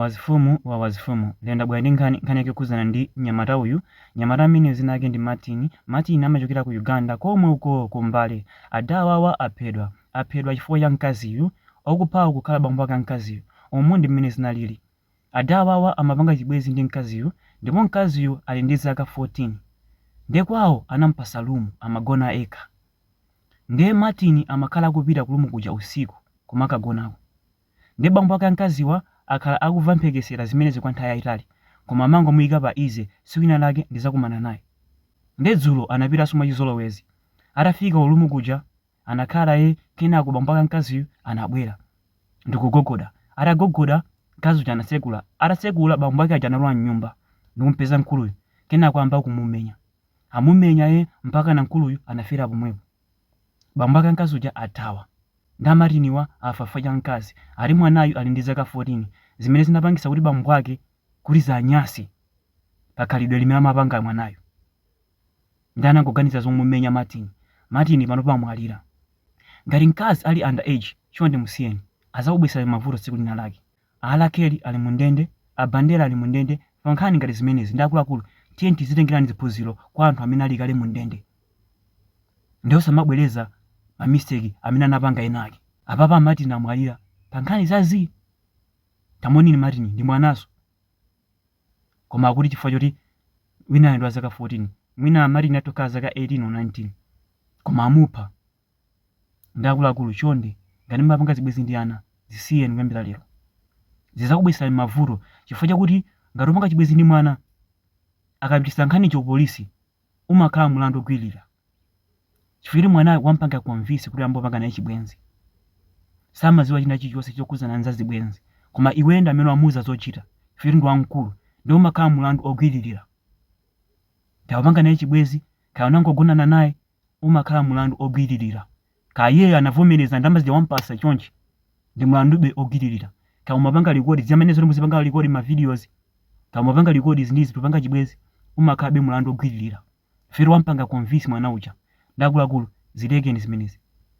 Wazifumu wa wazifumu. Lero ndabwera ndi nkhani, nkhani yake yokhudzana ndi mnyamata uyu. Mnyamata ameneyu dzina lake ndi Martin. Martin amachokera ku Uganda komwe uko ku Mbale. Ada awawa aphedwa. Aphedwa chifukwa cha mkaziyu. Okuphawo kukhala bambo ake a mkaziyu. Umu ndi mmene zinalili. Ada awawa amapanga chibwenzi ndi mkaziyu ndipo mkaziyu ali ndi zaka 14. Nde kwawo anamupatsa room amagona ekha. Nde Martin amakhala akupita ku room kuja usiku kumakagonako. Ndiye bambo ake a mkaziwa akhala akuva mphekesera zimenezi kwa nthawi yaitali koma amangomuika pa easy tsiku lina lake ndizakumana naye. Ndiye dzulo anapitanso mwachizolowezi. Atafika ku room kuja anakhala naye kenako bambo ake a mkaziyu anabwera ndikugogoda. Atagogoda mkazi uja anatsekula. Atatsekula bambo ake aja analowa mnyumba ndikumupeza mkuluyu kenako ayamba kumumenya. Amumenya ee mpakana mkuluyu anafera pomwepo. Bambo ake a mkazi uja athawa. Nde a Martiniwa afa chifukwa cha mkazi. Ati mwanayu ali ndi zaka 14. Zimene zinapangitsa kuti bambo ake kuti ziwanyanse pa khalidwe limene amapanga mwanayu. Ndiye anangoganiza zomumenya Martin. Martin panopa wamwalira. Ngati mkazi ali underage, chonde musiyeni. Adzakubweretserani mavuto tsiku linalake. A R. Kelly ali mu ndende, a Bandera ali mu ndende, pa nkhani ngati zimenezi nde akuluakulu tiyeni tizitengeraniko ziphunziro kwa anthu amene ali kale mu ndende nde osamabwereza ma mistake amene anapanga ena ake. Apapa a Martin amwalira pa nkhani za zii. Tamuoneni Martin ndi mwananso koma akuti chifukwa choti winayo ndi wa zaka 14 mwina Martin atokhala zaka 18 or 19 koma amupha. Nde akuluakulu chonde ngati mumapanga zibwezi ndi ana zisiyeni kuyambira lero. Zizakubweserani mavuto chifukwa chakuti ngati upanga chibwezi ndi mwana akapititsa nkhaniyo ku police umakhala mulandu ogwililira chifukwa choti mwanayo wampanga convince kuti uyambe kupanga naye chibwenzi. Samaziwa china chilichonse chokhudzana ndi za zibwenzi koma iweyo ndi amene wamuuza zochita chifukwa choti ndi wamkulu nde umakhala mulandu ogwililira. Kaya upanga naye chibwezi, kaya unangogonana naye, umakhala mulandu ogwililira kaya iyeyo anavomeleza ndalama zija wampasa chonchi ndi mulandube ogwililira kaya umapanga record zimene zoti muzipanga record ma videos kaya umapanga record izi ndi izi popanga chibwezi umakhalabe mulandu ogwililira chifukwa wampanga convince mwana uja nde akuluakulu zilekeni zimenezi